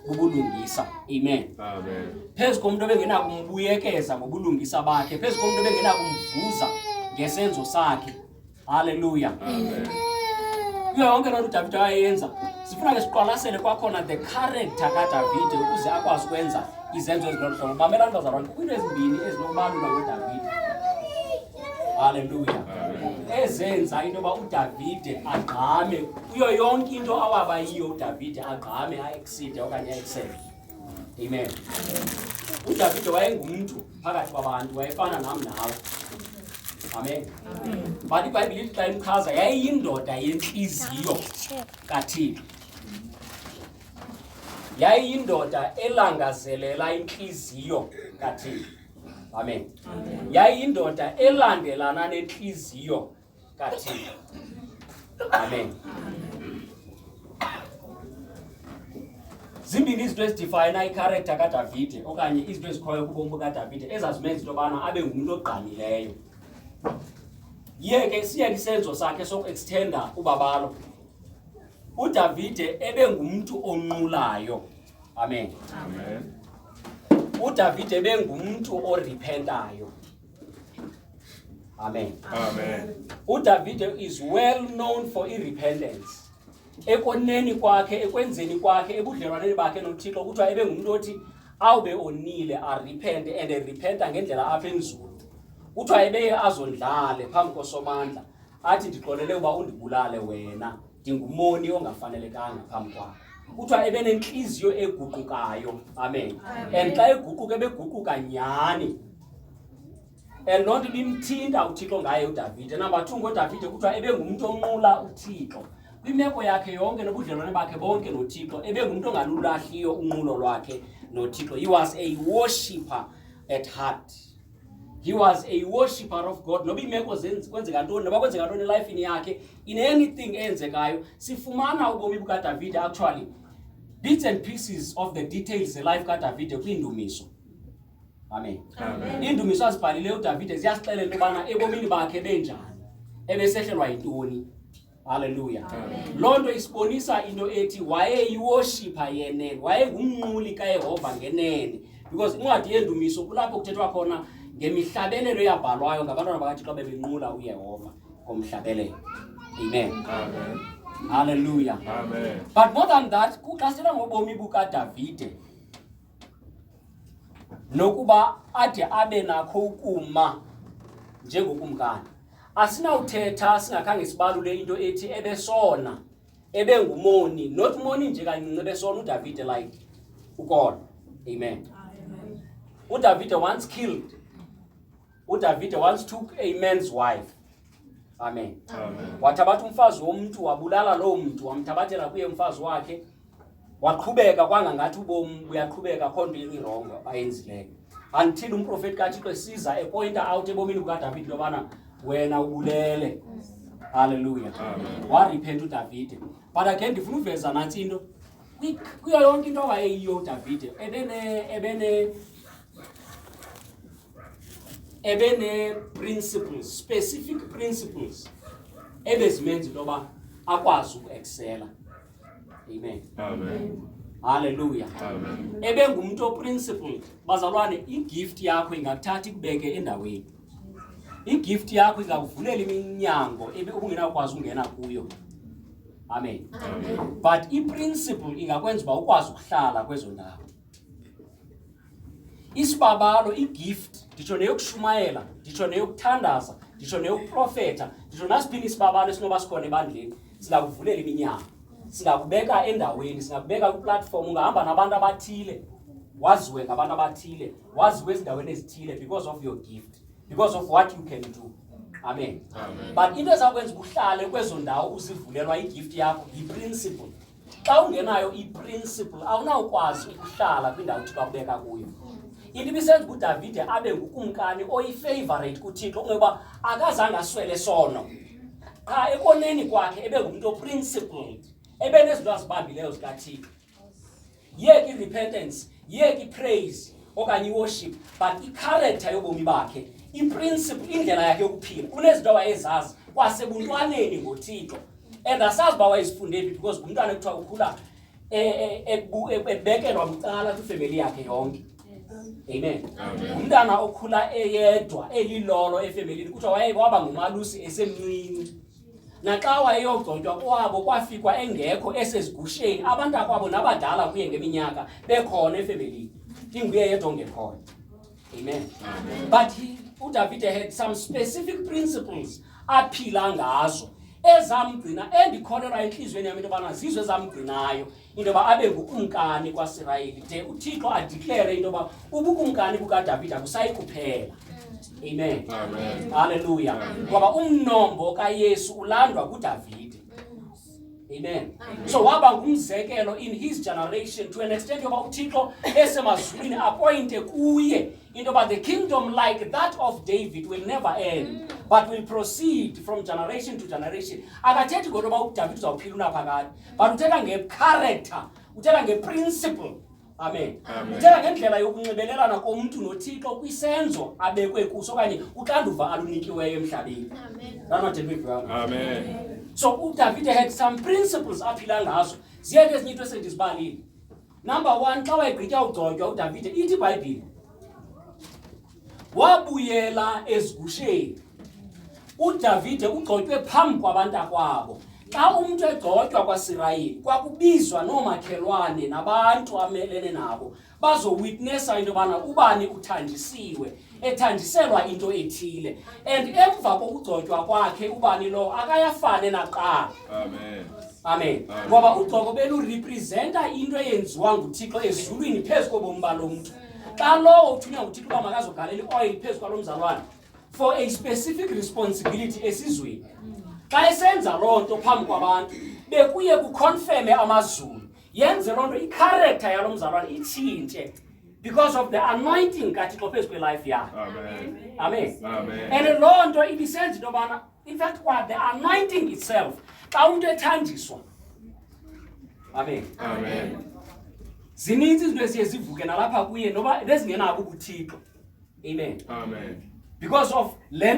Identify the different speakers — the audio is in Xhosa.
Speaker 1: bubulungisa amen phezu komntu obengenakumbuyekeza ngobulungisa bakhe phezu komntu obengenakumvuza ngesenzo sakhe halleluya
Speaker 2: kuyo
Speaker 1: yonke loo nto udavide wayeyenza sifuna ke siqwalasele kwakhona the character kadavide ukuze akwazi ukwenza izenzo ezilolu hlobo bamelani bazalwane kukwiinto ezimbini ezinokubalula kwedavide Haleluya. Ezenza into yoba uDavide agqame kuyo yonke into awaba yiyo uDavide agqame aekside okanye aeksele. Amen. UDavide wayengumntu phakathi kwabantu wayefana nam nawe. Amen. But iBhayibhile ithi xa imchaza yayiyindoda yentliziyo kaThixo. Yayiyindoda elangazelela intliziyo kaThixo. amen yayindoda elandelana nentliziyo kathixo amen zimbini izinto ezidifayina ikharektha kadavide okanye izinto ezikhoyo kubomi bukadavide ezazimenza into yobana abe ngumntu ogqamileyo yeke siyeke isenzo sakhe sokuextenda ubabalo udavide ebe ngumntu onqulayo Amen. Amen. UDavid ebengumntu orepentayo. Amen. Amen.
Speaker 2: UDavid
Speaker 1: is well known for i repentance. Ekoneni kwakhe, ekwenzeni kwakhe, ebudlelwaneni bakhe noThixo kuthiwa ebengumntu othi awube onile arepente and erepenta ngendlela apha enzulu kuthiwa ebeye azondlale phambi kosomandla athi ndixolele uba undibulale wena ndingumoni ongafanelekanga phambi kwakho kuthiwa ebenentliziyo eguqukayo amen and xa eguquka ebeguquka nyhani and loo nto ibimthinta uthixo ngaye udavide namba two ngodavide kuthiwa ebengumntu onqula uthixo kwimeko yakhe yonke nobudlelwane bakhe bonke nothixo ebengumntu ongalulahliyo unqulo lwakhe nothixo he was a worshipper at heart he was a worshipper of god noba iimeko kwenzeka ntoni noba kwenzeka ntoni elifini yakhe in anything eyenzekayo sifumana ubomi bukadavide actually bits and pieces of the details zelife kadavide kwiindumiso amen iindumiso
Speaker 2: azibhalileyo
Speaker 1: udavide ziyasixelela into yobana ebomini bakhe benjani ebesehlelwa yintoni Haleluya. Loo nto isibonisa into ethi wayeyiwoshipha yenene, wayengumnquli kaYehova ngenene. Because incwadi yendumiso kulapho kuthethwa khona ngemihlabelelo eyabhalwayo ngabantwana bakaThixo bebenqula uYehova ngomhlabelelo. Amen. Amen.
Speaker 2: Hallelujah.
Speaker 1: Amen. But
Speaker 2: more than that,
Speaker 1: kuxhasela ngobomi bukaDavide. nokuba ade abe nakho ukuma njengokumkani asinawuthetha singakhange sibalule into ethi ebesona ebengumoni not moni nje kancinci ebesona udavide like ukona amen udavide once killed udavide once took a man's wife amen, amen. wathabatha
Speaker 2: umfazi
Speaker 1: womntu wabulala loo mntu wamthabathela kuye umfazi wakhe waqhubeka kwangangathi ubomi buyaqhubeka kho nto irongo ayenzileyo until umprofeti kathixo esiza epointa out ebomini bukadavide lobana wena ubulele halleluya
Speaker 2: wariphenta udavide
Speaker 1: but again ndifuna uveza nantsi into kuyo yonke into awayeyiyo udavide ebene ebene ebenee-principles specific principles ebezimenza into yoba akwazi ukuexcela amen, amen.
Speaker 2: Hallelujah.
Speaker 1: Amen. Ebe
Speaker 2: ngumntu oprinciple
Speaker 1: bazalwane igift yakho ingakuthatha ikubeke endaweni. Igift yakho ingakuvulela iminyango ebe ubungenakwazi ungena kuyo. Amen. Amen.
Speaker 2: But iprinciple
Speaker 1: ingakwenza uba ukwazi ukuhlala kwezo ndawo. isibabalo igift nditsho neyokushumayela nditsho neyokuthandaza nditsho neyokuprofetha nditsho nasiphini isibabalo esinoba sikhona ebandleni singakuvulela iminyaka singakubeka endaweni singakubeka kwiplatform ungahamba nabantu abathile waziwe ngabantu abathile waziwe ezindaweni ezithile because of your gift because of what you can do amen, amen. but into
Speaker 2: ezakwenza
Speaker 1: uhlale kwezo ndawo uzivulelwa igift yakho yiprinciple xa ungenayo iprinciple awunawukwazi ukuhlala kwindawo uthixo akubeka kuyo into ibisenza uba udavide abe ngukumkani oyifavorate kuthixo kungoba akazange aswele sono qha ekoneni kwakhe ebe ngumntu oprincipled ebe nezinto azibambileyo zikathixo yeke irepentance yeke ipraise okanye iworship but icharacter yobomi bakhe iprinciple indlela yakhe yokuphila unezinto awayezazi kwasebuntwaneni ngothixo and asazi uba wayezifunde phi because ngumntwana ekuthiwa ukhula e, e, e, ebekelwa bucala kwifemeli yakhe yonke amen ngumntana okhula eyedwa elilolo efemelini kuthiwa waye waba ngumalusi esemncinci naxa wayeyogcotywa kwabo kwafikwa engekho esezigusheni abantu akwabo nabadala kuye ngeminyaka bekhona efemelini inguye yedwa ongekhona Amen. Amen. But he, uDavide had some specific principles aphila ngazo ezamgcina endikholelwa entliziyweni yam into yobana zizo ezamgcinayo into yoba abe ngukumkani kwasirayeli de uthixo adiklere into yoba ubukumkani bukadavide akusayi kuphela amen
Speaker 2: halleluya
Speaker 1: ngoba umnombo kayesu ulandwa kudavide Amen. Amen. So waba ngumzekelo in his generation to an extent yoba uThixo esemazulwini appointe kuye into yoba the kingdom like that of David will never end mm. but will proceed from generation to generation. Akathethi kodwa uba uDavid uzawuphila unaphakade but uthetha ngecharacter, uthetha ngeprinciple amen njengangendlela yokunxibelelana komntu nothixo kwisenzo abekwe kuso okanye uxanduva alunikiweyo emhlabeni
Speaker 2: so udavide
Speaker 1: had some principles aphila ngazo ziye ke ezinye into esendizibalile number one xa wayegqitya ugcotywa udavide ithi ibhayibhile wabuyela ezigusheni udavide ugxotywe phambi kwabantakwabo xa umntu egxotywa kwasirayeli kwakubizwa noomakhelwane nabantu amelene nabo bazowitnesa into yobana ubani uthandisiwe ethandiselwa into ethile and emva kokugxotywa kwakhe ubani lowo akayafane naqala
Speaker 2: amen amen
Speaker 1: ngoba ugxoko belurepresenta into eyenziwa nguthixo ezulwini phezu kobomi balo mntu xa lowo uthunywa nguthixo uba makazogalela ioyil phezu kwalo mzalwana for a specific responsibility esizweni xa esenza loo nto phambi kwabantu bekuye kukhonfeme amazulu yenze loo nto ikharektha yalo mzalwana itshintshe because of the anointing kathixo phezu kwelife yakhe amen and loo
Speaker 2: nto
Speaker 1: ibisenza into yobana in fact kwa the anointing itself xa umntu ethanjiswa amen amen
Speaker 2: zininzi
Speaker 1: izinto eziye zivuke nalapha kuye noba nezingenabo ubuthixo
Speaker 2: amen
Speaker 1: amen because of le